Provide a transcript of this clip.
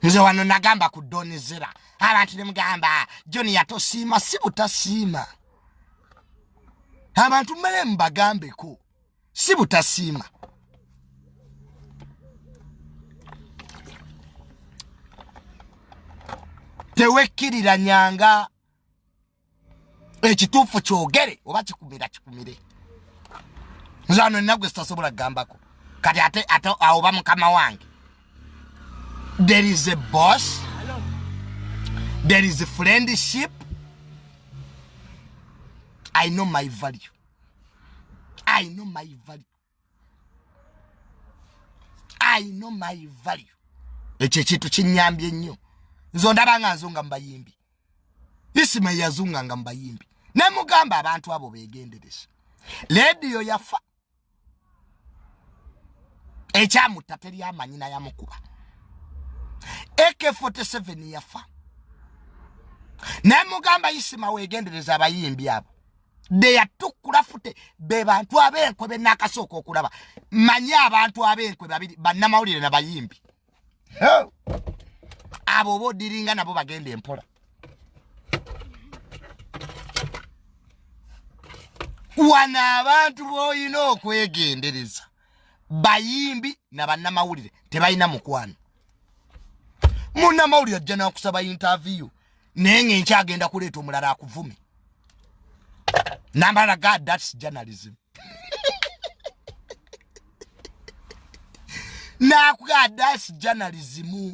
nze wano nagamba ku doni zera abantu nemugamba joni yatosiima si butasiima abantu mmere mubagambeko si butasiima tewekkiriranyanga ekituufu kyogere oba kikumira kikumire nzano enagwe sitasobola kugambako kati ate ate awoba mukama wange there is a boss there is a friendship i know my value i know my value i know my value ekyo ekintu kinyambye ennyo nze ondaba nga nzunga mubayimbi isima yazunga nga mubayimbi nemugamba abantu abo begendereza lediyo yafa ekyamutta teri amanyi nayamukuba ak 47 yafa nemugamba isima wegendereza abayimbi abo beyatukula fute be bantu abenkwe benakasooka okulaba manyi abantu abenkwe babiri bannamawulire na bayimbi abo oba odiringa nabo bagenda empola wano abantu boyina okwegendereza bayimbi na bannamawulire tebalina mukwano munnamawulire ajja nakusaba intaviyu naye nga enkyagenda kuleeta omulala akuvume namala ga thats journalism nakuga thats journalism